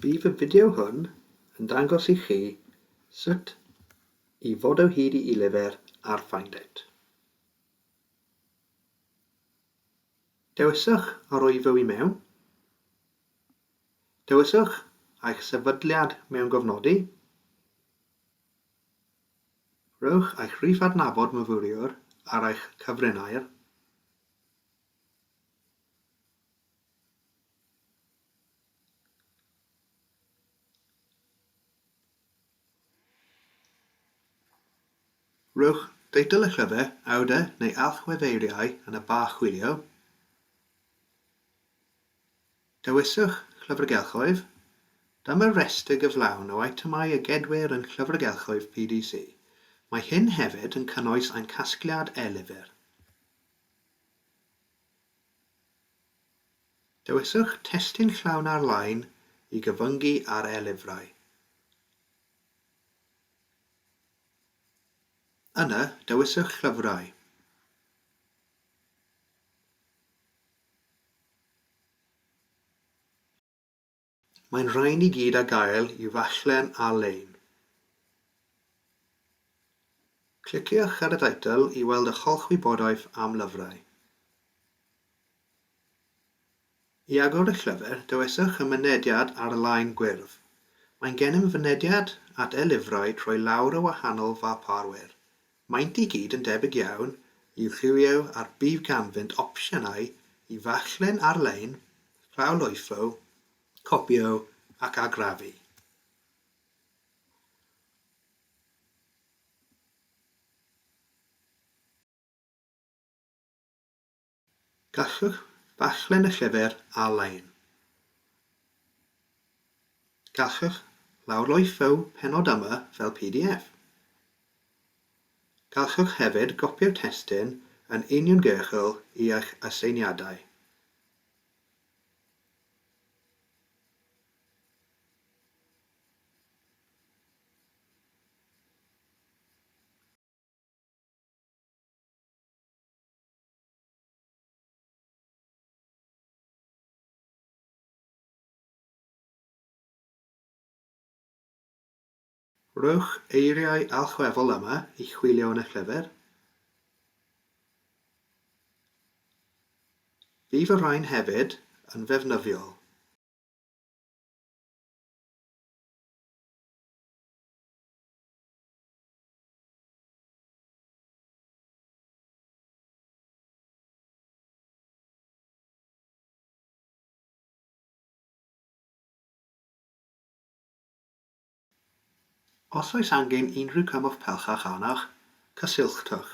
Bydd y fideo hwn yn dangos i chi sut i fod o hyd i Ilyfr ar Find It. Dewiswch arwyddw i mewn. Dewiswch eich sefydliad mewn gofnodi. Rhowch eich rhif adnabod myfyriwr ar eich cyfrinair. Rhowch deitl y llyfr, awdur neu allweddeiriau yn y ba chwilio. Dewiswch Llyfrgelloedd. Dyma restr gyflawn o eitemau a gedwir yn Llyfrgelloedd PDC. Mae hyn hefyd yn cynnwys ein casgliad e-lyfr. Dewiswch Testun Llawn Ar-lein i gyfyngu ar e-lyfrau. Yna, dewiswch Llyfrau. Mae'n rhain i gyd a gael i ddarllen ar-lein. Cliciwch ar y teitl i weld eich holl wybodaeth am lyfrau. I agor eich llyfr, dewiswch y mynediad ar-lein gwyrdd. Mae'n gennym fynediad at e-lyfrau trwy lawr y wahanol ddarparwyr, Maent i gyd yn debyg iawn i'w lliwiau a'r bydd ganddynt opsiynau i ddarllen ar-lein, llawrlwytho, copïo ac argraffu. Gallwch ddarllen y llyfr ar-lein. Gallwch lawrloifeu pennod yma fel pdf. Gallwch hefyd gopïo'r testun yn uniongyrchol i eich aseiniadau. Rhowch eiriau allweddol yma i chwilio yn y llyfr. Bydd y rhain hefyd yn ddefnyddiol. Os oes angen unrhyw gymorth pellach arnoch, cysylltwch.